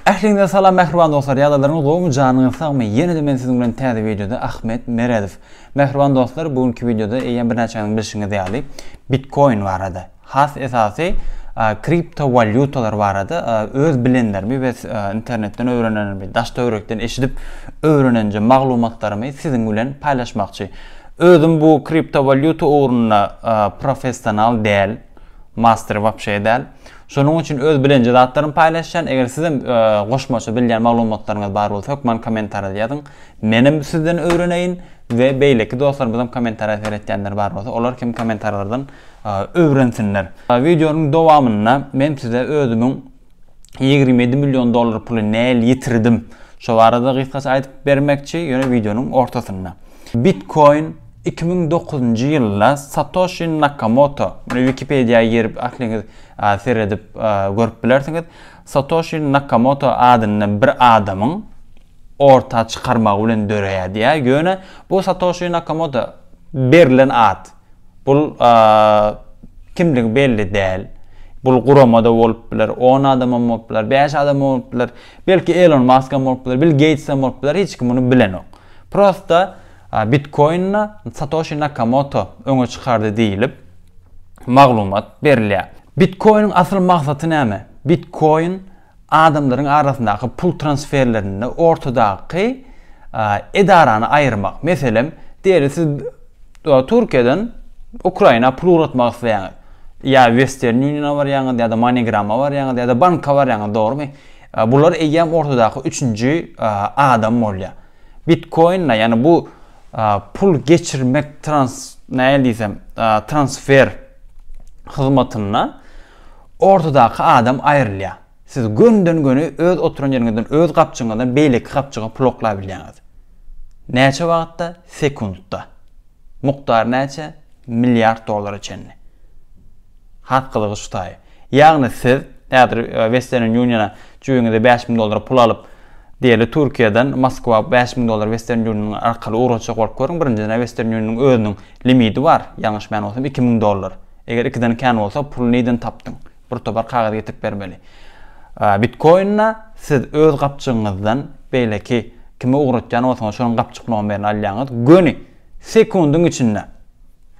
Ähliňize salam mähriban dostlar ýadalaryňyz gowmy janyňyz sagmy ýenede men siziň bilen täze wideoda Ahmet Meredow mähriban dostlar bu günki wideoda eýýäm birnäçäňiziň bilşiňiz ýaly bitkoin barada has esasy kripto walýutalar barada öz bilenlerimi we internetden öwrenenimi daş töwrekden eşidip öwrenenje maglumatlarymy siziň bilen paýlaşmakçy özüm bu kripto walýuta ugrunda professional däl master wapşe däl Şonuň üçin öz bilenje zatlarymy paýlaşýan, eger sizem goşmaça bilýän maglumatlaryňyz bar bolsa hökman kommentarýada ýazyň. Menem sizden öwreneýin we beýleki dostlarymyzam kommentarýa seretýänler bar bolsa olar hem kommentarlardan öwrensinler. Wideonyň dowamynda men size özümiň ýigrimi ýedi million dollar puly näl ýitirdim şo barada gysgaça aýdyp bermekçi, ýöne wideonyň ortasynda. Bitcoin Iki müň dokuzynjy ýylda Satoşi Nakamoto, mine Wikipediýa girip ähliňiz seredip görüp bilersiňiz, Satoşi Nakamoto adynda bir adamyň orta çykarmagy bilen döreýär diýýär. Ýöne bu Satoşi Nakamoto berlen at. Bul kimligi belli däl. Bul gurama-da bolup biler, on adamam bolup biler, bäş adamam bolup biler, belki Elon Maskam bolup biler, Bill Geýtsem bolup biler, hiç kim muny bilenok. Prosta Bitkoin-i Satoşi Nakamoto öňe çykardy diýlip, maglumat berilýär. Bitkoiniň asyl maksaty näme? Bitkoin adamlaryň arasyndaky pul transferlerinde ortadaky edarany aýyrmak. Meselem, diýeli siz Türkiýeden Ukraina pul ugratmak isleýäňiz. Ýa Western Union-a barýaňyz, ýa-da MoneyGram-a barýaňyz, ýa-da banka barýaňyz, dogrumy? Bular eýýäm ortadaky üçünji adam bolýar. Bitkoinle yani bu pul geçirmek trans näl diysem transfer hyzmatynda ortadaky adam aýrylýar. Siz gönden göni öz oturan ýeriňizden öz gapjyňyzdan beýleki gapjyga pul oklap bilýäňiz. Näçe wagtda? Sekuntda. Mukdary näçe? Milliard dollara çenli. Has gyzygy şu taýy. Ýagny siz häzir Western Union-a jübiňize bäş müň dollara pul alyp, diýeli Türkiýeden Moskwa bäş müň dollar Western Union arkaly ugratjak bolup görüň, birinjiden Western Union-yň özüniň limidi bar, ýalňyşmaýan bolsam iki müň dollar. Eger ikiden kän bolsa puly nirden tapdyň? Bir topar kagyz getirip bermeli. Bitkoin-a siz öz gapjygyňyzdan beýleki kime ugratýan bolsaňyz şonuň gapjyklygyny bilen alýaňyz, göni sekundyň içinde.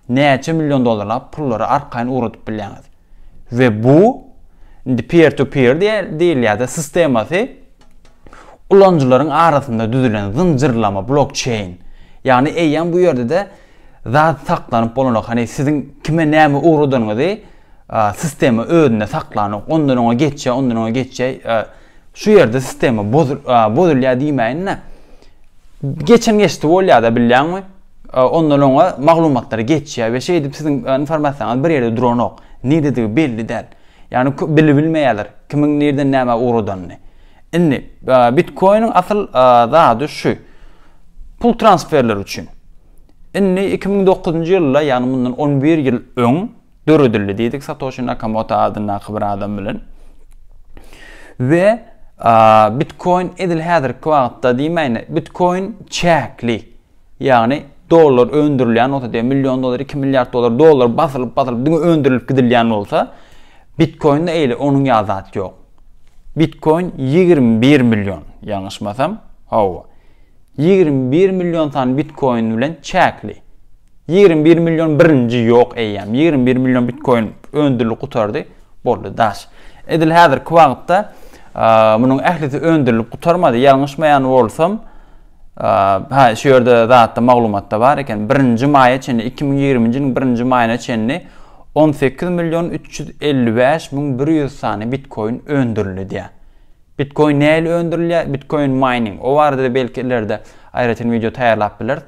näçe million dollarlap pullary arkaýyn ugradyp bilýäňiz. We bu indi peer to peer diýilýärde sistemasy ulanyjylaryň arasynda düzülen zynjyrlama blokçeýn. Ýagny eýýäm bu ýerde-de zat saklanyp bolanok. Hany siziň kime näme ugradanyňyzy sistema özünde saklanok. Ondan oňa geçýär, ondan oňa geçýär. Şu ýerde sistema bozulýar diýmäýin-de. Geçen geçdi bolýar-da bilýäňmi? Ondan oňa maglumatlar geçýär we şeýdip siziň informasiýaňyz bir ýerde duranok. Niredigi belli däl. Ýagny bilbilmeýärler kimiň nireden nämä ugradanyny. Indi bitkoiniň asyl zady şu. Pul transferleri üçin. Indi iki müň dokuzynjy ýylda, ýagny mundan on bir ýyl öň döredildi diýdik Satoşi Nakamoto adyndaky bir adam bilen. We bitkoin edil häzirki wagtda diýmäýin, bitkoin çäkli. Ýagny dollar öndürilýän bolsa diýen million dollar, iki milliard dollar, dollar basylyp basylyp diňe öndürilip gidilýän bolsa, bitkoinde eýle onuň ýaly zat ýok. Bitkoin 21 million, ýalňyşmasam, hawa. 21 million sany bitkoin bilen çäkli. 21 million birinji ýok eýýäm. 21 million bitkoin öndürilip gutardy, boldy daş. Edil häzirki wagtda munuň ählisi öndürilip gutarmady. Ýalňyşmaýan bolsam, Hä, şu ýerde zatda maglumatda bar eken, birinji maýa çenli, iki müň ýigrimi ýylyň birinji maýyna çenli on sekiz million üç ýüz elli bäş müň bir ýüz sany bitkoin öndürildi diýýär. Bitkoin nähili öndürilýär? Bitkoin mining. O barada belki ileride aýratyn wideo taýýarlap bileris.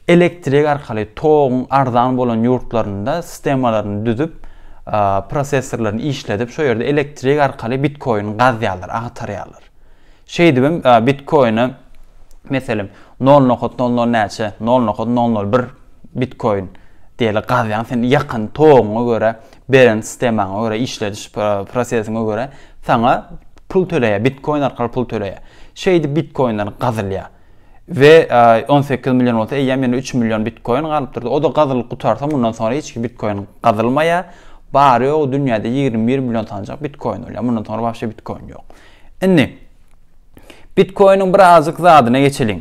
Elektrik arkaly toguň arzan bolan ýurtlarynda sistemalaryny düzüp, prosessorlaryny işledip, şo ýerde elektrik arkaly bitkoin gazýarlar, agtarýarlar. Şeýdibem bitkoine meselem nol nokat nol nol näçe nol nokat nol nol bir bitkoin diýeli gazýaň sen ýakan toguňa görä beren sistemaňa görä işlediş prosesiňe görä saňa pul töleýär bitkoin arkaly pul töleýär şeýdip bitkoinler gazylýar. We on sekiz million bolsa eýýäm ýene üç million bitkoin galypdyr. O-da gazylyp gutarsa mundan soňra hiç iki bitkoin gazylmaýar. Bary-ýogy dünýäde ýigrimi bir million sanjak bitkoin bolýar. Mundan soňra wapşe bitkoin ýok. Indi bitkoiniň birazjyk zadyna geçeliň.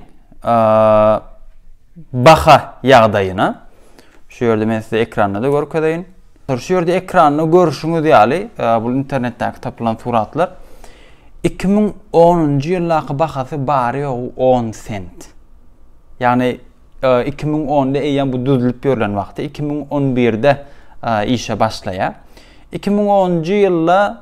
Baha ýagdaýyna. Şu ýerde men size ekranda-da görkezeýin. Şu ýerde ekranda görşüňiz ýaly, bu internetdäki tapylan suratlar. Iki müň onunjy ýyldaky bahasy bary-ýogy on sent. Ýagny iki müň onda eýýäm bu düzülip ýörlen wagty, iki müň on birde işe başlaýar. Iki müň onunjy ýylda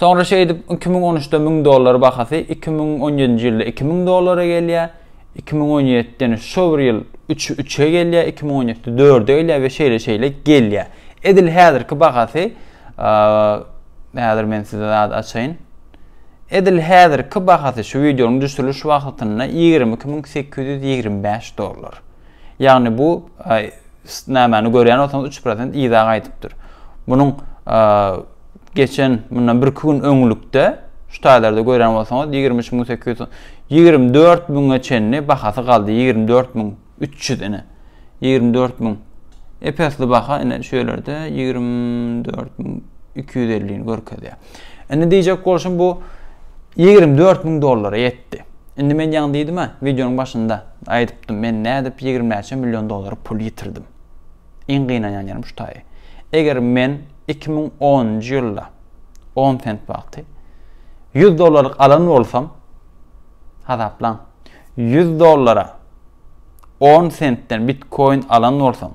Soňra şeýdip, iki müň on üçde müň dollar bahasy iki müň on ýedinji ýylda iki müň dollara gelýär, iki müň on ýedide ýene şo bir ýyl üç üçe gelýär, iki müň on ýedide dörde gelýär we şeýle şeýle gelýär. Edil häzirki bahasy häzir men size zat açaýyn. Edil häzirki bahasy şu wideonyň düşüriliş wagtynda ýigrimi iki müň sekiz ýüz ýigrimi bäş dollar. Ýagny bu nämäni görýän bolsaňyz üç prosent yza gaýdypdyr. Munuň geçen mundan bir iki gün öňlükde şu taýlarda görýän bolsaňyz ýigrimi üç müň sekiz ýüz ýigrimi dört müňe çenli bahasy galdy ýigrimi dört müň üç ýüz ine ýigrimi dört müň epesli baha ine şu ýerlerde ýigrimi dört müň iki ýüz elli görkezýär. Indi diýjek bolşum bu ýigrimi dört müň dollara ýetdi. Indi men ýaňy diýdim-ä, wideonyň başynda aýdypdym, men nädip ýigrimi näçe million dollar pul ýitirdim. Iň gynanýan ýerim şu taýy. Eger men iki müň onunjy ýylda on sent wagty ýüz dollarlyk alan bolsam, hasaplaň, ýüz dollara on sentden bitkoin alan bolsam,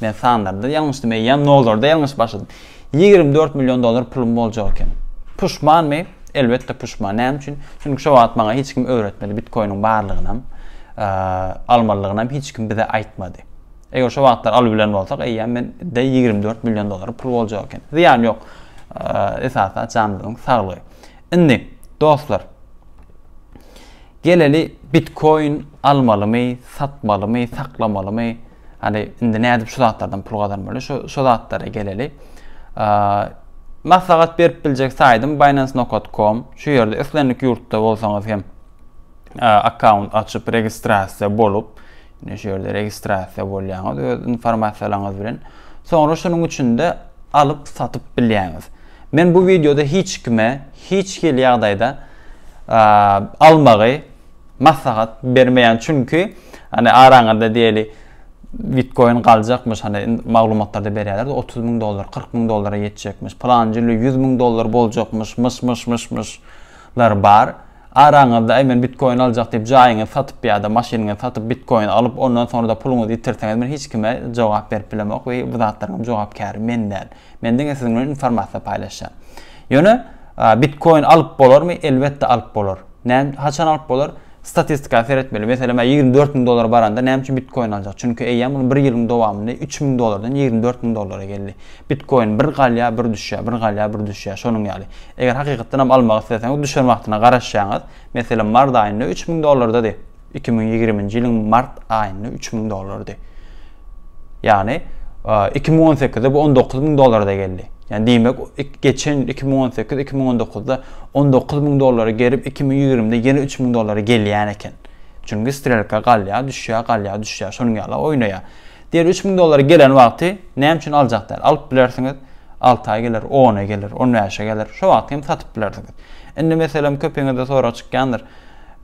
Men sanlarda ýalňyşdym, eýýäm nollarda ýalňyş başladym. Ýigrimi dört million dollar pulum boljak eken. Puşmanmy? Elbetde puşman. Näme üçin? Çünki şo wagt maňa hiç kim öwretmedi. Bitkoiniň barlygynam, almalygynam hiç kim bize aýtmady. Eger şo wagtlar alyp bilen bolsak, eýýäm men de ýigrimi dört million dollar pul boljak eken. Zyýan ýok. Esasy janymyzyň saglygy. Indi dostlar, geleli bitkoin almalymy, satmalymy, saklamalymy? Hany indi nädip şu zatlardan pul gazanmaly? Şu şu zatlara geleli. Maslahat berip biljek saýdym binance.com. Şu ýerde islendik ýurtda bolsaňyz hem akkaunt açyp registrasiýa bolup, indi şu ýerde registrasiýa bolýaňyz öz informasiýalaryňyz bilen. Soňra şunuň üçinde alyp satyp bilýäňiz. Men bu wideoda hiç kime, hiç hili ýagdaýda almagy maslahat bermeýän çünki hani araňada diýeli bitkoin galjakmyş hani maglumatlarda berýärler 30 müň dollar 40 müň dollara ýetjekmiş planjy 100 müň dollar boljakmyş myş myş myş myş lar bar araňyzda men bitkoin aljak diýip jaýyňy satyp ýa-da maşynyňy satyp bitkoin alyp ondan soňra da puluňyzy ýitirseňiz men hiç kime jogap berip bilemok we bu zatlaryň jogapkäri men däl Men diňe siziň bilen informasiýa paýlaşýan. Ýöne bitkoin alyp bolarmy? Elbetde alyp bolar. Näme haçan alyp bolar? Statistika seretmeli. Meselem, 24 müň dollar baranda näme üçin bitkoin aljak? Çünki eýýäm muny 1 ýylyň dowamynda 3 müň dollardan 24 müň dollara geldi. Bitkoin bir galýar, bir düşýär, bir galýar, bir düşýär. Şonuň ýaly. Eger hakykatdan hem almak isleseňiz, düşen wagtyna garaşýaňyz. Meselem, mart aýynda 3 müň dollardady. Iki müň ýigriminji ýylyň mart aýynda üç müň dollardy. Ýagny iki müň on sekizde bu on dokuz müň dollarda geldi. Ýagny diýmek, geçen iki müň on sekiz, iki müň on dokuzda on dokuz müň dollara gelip, iki müň ýigrimide ýene üç müň dollara gelýän eken. Çünki strelka galýar, düşýär, galýar, düşýär, şonuň ýaly oýnaýar. Diýeli üç müň dollara gelen wagty näme üçin aljak däl? Alyp bilersiňiz, alty aý geler, on aý geler, on bäşe geler, şo wagty hem satyp bilersiňiz. Indi meselem köpiňizde sorag çykýandyr,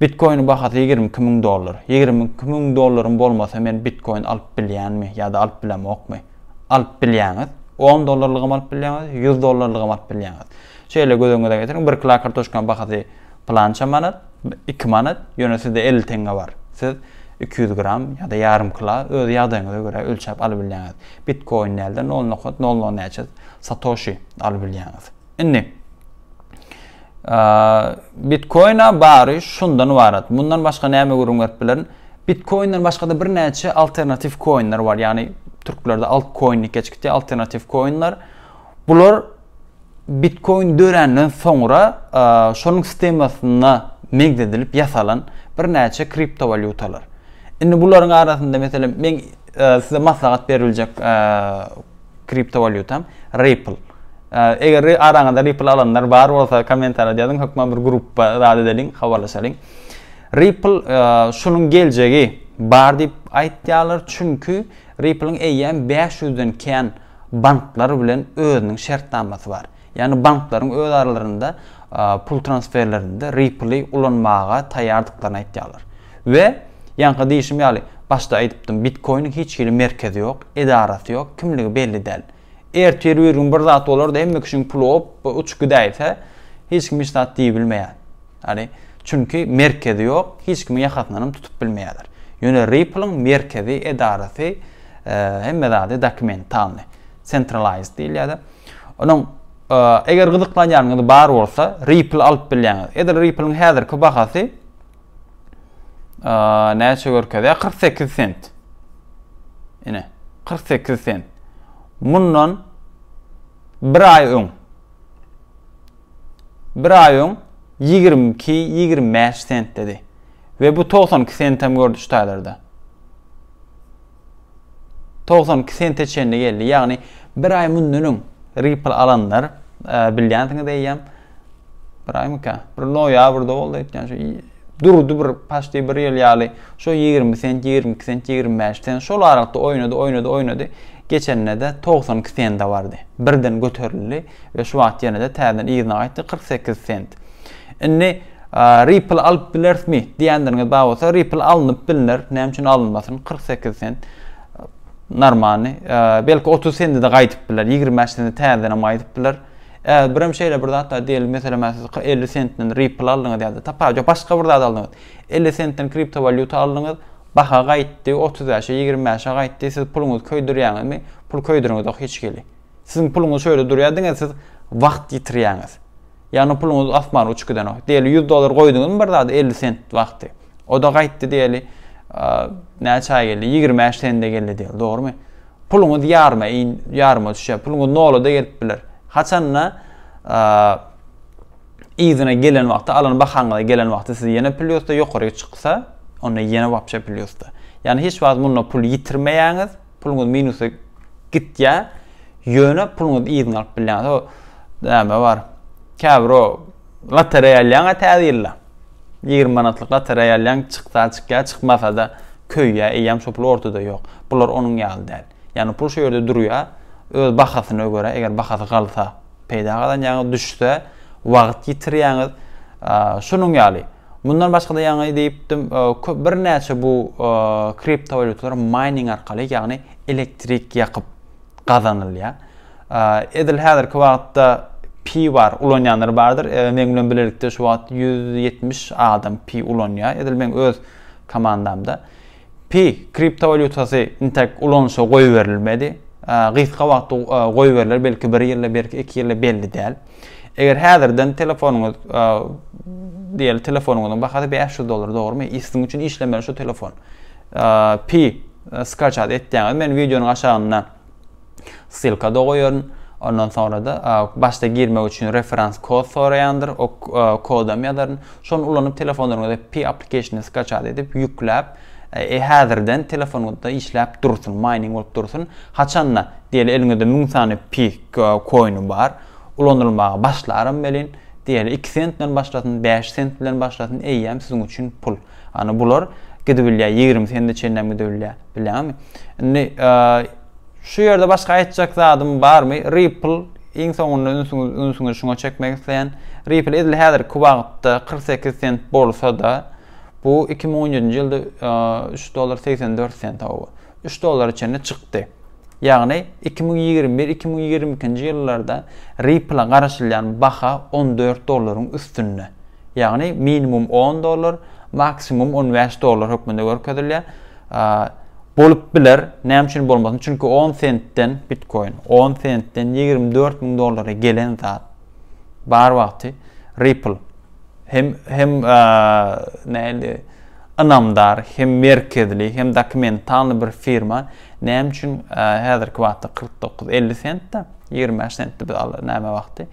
Bitkoiniň bahasy ýigrimi iki müň dollar. Ýigrimi iki müň dollarym bolmasa men bitkoin alyp bilýänmi ýa-da alyp bilemokmy? Alyp bilýäňiz. On dollarlygam alyp bilýäňiz, ýüz dollarlygam alyp bilýäňiz. Şeýle göz öňüňize getiriň, bir kila kartoşkanyň bahasy pylança manat, iki manat, ýöne sizde elli teňňe bar. Siz iki ýüz gram ýa-da ýarym kila öz ýagdaýyňyza görä ölçäp alybilýäňiz. Bitkoin däl-de nol nokat nol nol näçe satoşi alybilýäňiz. Indi Bitcoin-a bary şundan ybarat. Mundan başga näme gürrüň berip bilerin? Bitcoin-den başga-da birnäçe alternatiw koinler bar. Ýagny türklerde altcoin diýip geçipdi, alternatiw koinler. Bular Bitcoin döränden soňra şonuň sistemasyna meňzedilip ýasalan birnäçe kriptowalýutalar. Indi bularyň arasynda meselem men size maslahat beriljek Kriptowalýutam Ripple. Eger araňyzda Ripple alanlar bar bolsa kommentariýada ýazyň, hökman bir gruppa zat edeliň, habarlaşalyň. Ripple e, şunuň geljegi bar diýip aýtýarlar, çünki Ripple-iň eýýäm 500-den kän banklar bilen özüniň şertnamasy bar. Ýagny banklaryň öz aralarynda pul transferlerinde Ripple-i ulanmaga taýýardyklaryny aýtýarlar. We, ýaňky diýşim ýaly, başda aýdypdym, Bitcoin-iň hiç hili merkezi ýok, edarasy ýok, kimligi belli däl. Ertir bir gün bir zat bolar-da, hemme kişiň puly op-oba uçup gidäýse, hiç kim hiç zat diýibilmeýär. Ýagny, çünki merkezi ýok, hiç kimiň ýakasyndanam tutup bilmeýärler. Ýöne Ripple-iň merkezi, edarasy, hemme zady dokumentalny, centralized diýilýär-de. Onuň eger gyzyklanýanyňyz bar bolsa, Ripple alyp bilýäňiz. Edil Ripple-iň häzirki bahasy näçe görkezýär? 48 sent. Ine, 48 sent. Mundan bir aý öň bir aý öň 22-25 sent dedi. Ve bu 92 sentem gördü şu taýlarda. togsan iki sente çenli geldi. Ýagny bir aý mundan öň Ripple alanlar bilýänsiňiz eýýäm bir aýmyka bir noýabrda boldy aýtýan şu durdy bir paşty bir ýyl ýaly şu 20 sent 22 sent 25 sent şol aralykda oýnady oýnady oýnady geçende de 92 sende bardy birden göterildi we şu wagt ýene de täzeden yzyna gaýtdy 48 sent indi Ripple alyp bilerismi diýenleriňiz bar bolsa Ripple alnyp bilner näme üçin alynmasyn kyrk sekiz sent normany belki otuz sendede gaýdyp biler ýigrimi bäş sende täzedenem gaýdyp biler Eee birem şeýle bir zat bar diýeli meselem men siz elli sentden Ripple aldyňyz ýa-da tapa ýok başga bir zat aldyňyz elli sentden kriptowalýuta aldyňyz baha gaýtdy otuz bäşe ýigrimi bäşe gaýtdy siz puluňyzy köýdürýäňizmi pul köýdüriňizok hiç hili. Siziň puluňyz şöýle durýar diňe siz wagt ýitirýäňiz. Ýagny o puluňyz asmana uçup gidenok. Diýeli 100 dollar goýduňyzmy bir zada 50 sent wagty. O da gaýtdy diýeli näçe aý geldi? 25 sende geldi diýeli, dogrumy? Puluňyz ýaryma, ýaryma düşýär. Puluňyz nola da gelip biler. Haçanda yzyna gelen wagty, alan bahaňyza gelen wagty siz ýene plýusda ýokaryk çyksa, onda ýene wapşa plýusda. Ýagny hiç wagt munda pul ýitirmeýäňiz. Puluňyz minusa gitýä, ýöne puluňyzy yzyňa alyp bilýäňiz. O näme bar? Käbir o lotereýa alýaň-a täze ýylda. 20 manatlyk lotereýa alýaň, çyksa çykýa, çykmasa-da köýýä, eýýäm şo pul ortada ýok. Bular onuň ýaly däl. Ýagny pul şo ýerde durýa, öz bahasyna görä, eger bahasy galsa, peýda gazanýaňyz, düşse, wagt ýitirýäňiz. Şunuň ýaly. Mundan başga-da ýaňy diýipdim, köp birnäçe bu kriptowalýutalar mining arkaly, ýagny elektrik ýakyp gazanylýar. Edil häzirki wagtda pi bar, ulanýanlar bardyr. Meň bilen bilelikde şu wagt 170 adam pi ulanýar. Edil meň öz komandamda. Pi kriptowalýutasy intäk ulanyşa goýberilmedi. Gysga wagtda goýberiler, belki bir ýylda, belki iki ýylda belli däl. Eger häzirden telefonyňyz diýeli telefonyňyzyň bahasy bäş ýüz dollar dogrymy? Issiň üçin işlemeli şu telefon. Pi skaçat etýäňiz. Men wideonyň aşagynda ssylkada goýaryn. Ondan soňra-da başda girmek üçin referans kod soraýandyr. O kodam ýazaryn. Şony ulanyp telefonlaryňyza Pi application-y skaçat edip ýükläp, häzirden telefonyňyzda işläp dursun, maýning bolup dursun. Haçan-da, diýeli, eliňizde müň sany Pi koýny bar, ulanylmaga başlaram welin, diýeli, iki sentden başlasyn, bäş sent bilen başlasyn, eýýäm siziň üçin pul. Hany bular gidibilýär, ýigrimi sende çenlem gidebilýär. Bilýäňizmi? Indi şu ýerde başga aýtjak zadym barmy? Ripple iň soňunda ünsüňizi şuňa çekmek isleýän. Ripple edil häzirki wagtda 48 sent bolsa-da, bu 2017-nji ýylda 3 dollar 84 sent, 3 dollara çenli çykdy. Ýagny iki müň ýigrimi bir iki müň ýigrimi ikinji ýyllarda Ripple-a garaşylýan baha on dört dollaryň üstünde. Ýagny minimum on dollar, maksimum on bäş dollar hökmünde görkezilýär. Bolup biler, näme üçin bolmasyn? Çünki on sentden, bitkoin, on sentden ýigrimi dört müň dollara gelen zat. Bar wagty Ripple hem hem nähili ynamdar hem merkezli hem dokumentalny bir firma näme üçin häzirki wagtda kyrk dokuz elli sentde ýigrimi bäş sentde biz al näme wagty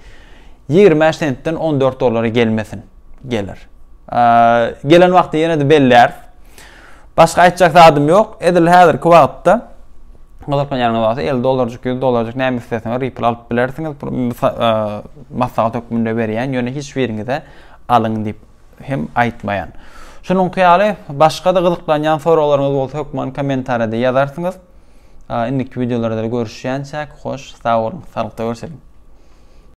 ýigrimi bäş sentden on dört dollara gelmesin geler gelen wagty ýene-de belläris Başga aýtjak zadym ýok. Edil häzirki wagtda gyzyklan ýeriňiz bolsa 50 dollarjyk, 100 dollarjyk näme isleseňiz Ripple alyp bilersiňiz. Bu maslahat hökmünde berýän, ýöne hiç biriňize alyň diýip hem aýtmaýan. Şunuňky ýaly başga-da gyzyklanýan soraglaryňyz bolsa hökman kommentariýada ýazarsyňyz. Indiki wideolarda görüşýänçäk, hoş, sag boluň, saglykda görüşeliň.